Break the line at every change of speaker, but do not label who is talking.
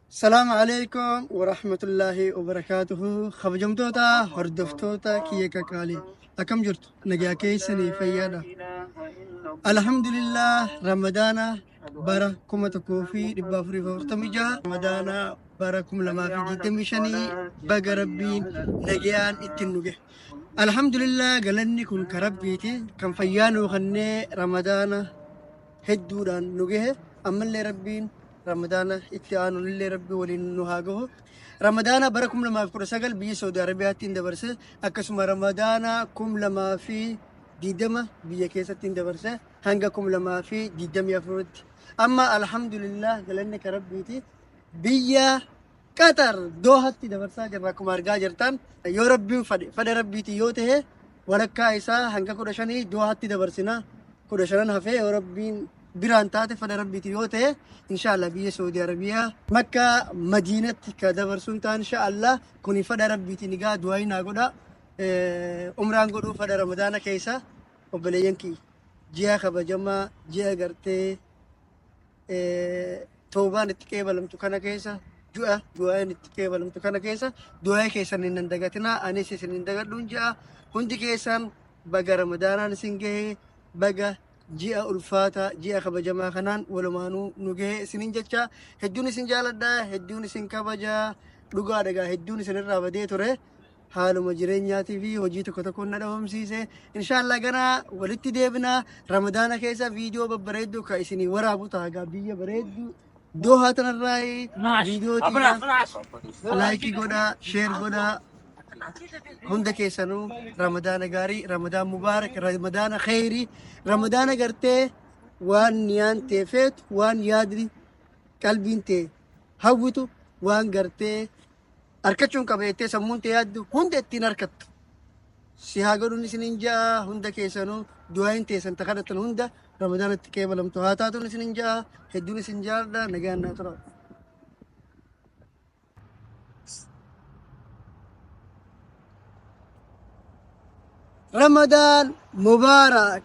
Salaamu alaikum wa rahmatullahi wa barakaatuhu. Kabajamtoota hordoftoota kiyya kakaalee akkam jirtu nagaa keessanii fayyaadha. Alhamdulillah Ramadaana bara kuma tokkoo fi dhibba afurii fi afurtamii jaha Ramadaana bara kuma lamaa fi digdamii shanii baga rabbiin nagayaan ittiin nu gahe. Alhamdulillah galanni kun ka Rabbiiti kan fayyaa nuu kennee ramadaana hedduudhaan nu gahe ammallee Rabbiin ramadaana itti aanullee Rabbi waliin nu haa gahu. Ramadaana bara 2019 biyya Saudi Arabiyaatti hin dabarse akkasuma ramadaana 2020 biyya keessatti hin dabarse hanga 2024tti. Amma alhamdulillah galanni ka Rabbiiti biyya Qatar Doohatti dabarsaa jirra akkuma argaa jirtan yoo rabbiin fade fada rabbiitiin yoo ta'e walakkaa isaa hanga kudha shanii Doohatti dabarsina kudha shanan hafee yoo rabbiin biraan taate fada rabbiitiin yoo ta'e inshaallah biyya Saudi Arabiyaa makka madiinatti ka dabarsuun ta'an inshaallah kuni fada rabbiitiin egaa du'aayi naa godha umraan godhuu fada ramadaana keessa obboleeyyan kiyya ji'a kabajamaa ji'a gartee eh, toobaan itti qeebalamtu kana keessa du'a du'aayin itti qeebalamtu kana keessa du'aa'ee keessan hin nan dagatinaa anis isin hin dagadhuun ja'a hundi keessaan baga ramadaanaan isin gahee baga ji'a ulfaataa ji'a kabajamaa kanaan walumaanuu nu gahee isinin jechaa hedduun isin jaaladhaa hedduun isin kabajaa dhugaa dhagaa hedduun isin irraa badee ture haaluma jireenyaatii fi hojii tokko tokkoon na dhabamsiise. Inshaallah gana walitti deebina ramadaana keessa viidiyoo babbareedduu ka isinii waraabu ta'a gaa biyya bareedduu. Dohaa tanarraa viidiyoo tiyaa laayikii godhaa, sheer godhaa. Hunda keessanuu ramadaana gaarii, ramadaan mubaarak, ramadaana kheyrii, ramadaana gartee waan niyaan tee feetu, waan yaadni qalbiin tee hawwitu, waan gartee arkachuun qaba jettee sammuun tee yaaddu hunda ittiin arkattu. Si haa godhuun isinin ja'a hunda keessanuu du'aayin teessan ta kadhatan hunda ramadaanatti qeebalamtu haa taatuun isinin ja'a hedduun isin jaaldha nagaan naa tura. Ramadan Mubarak.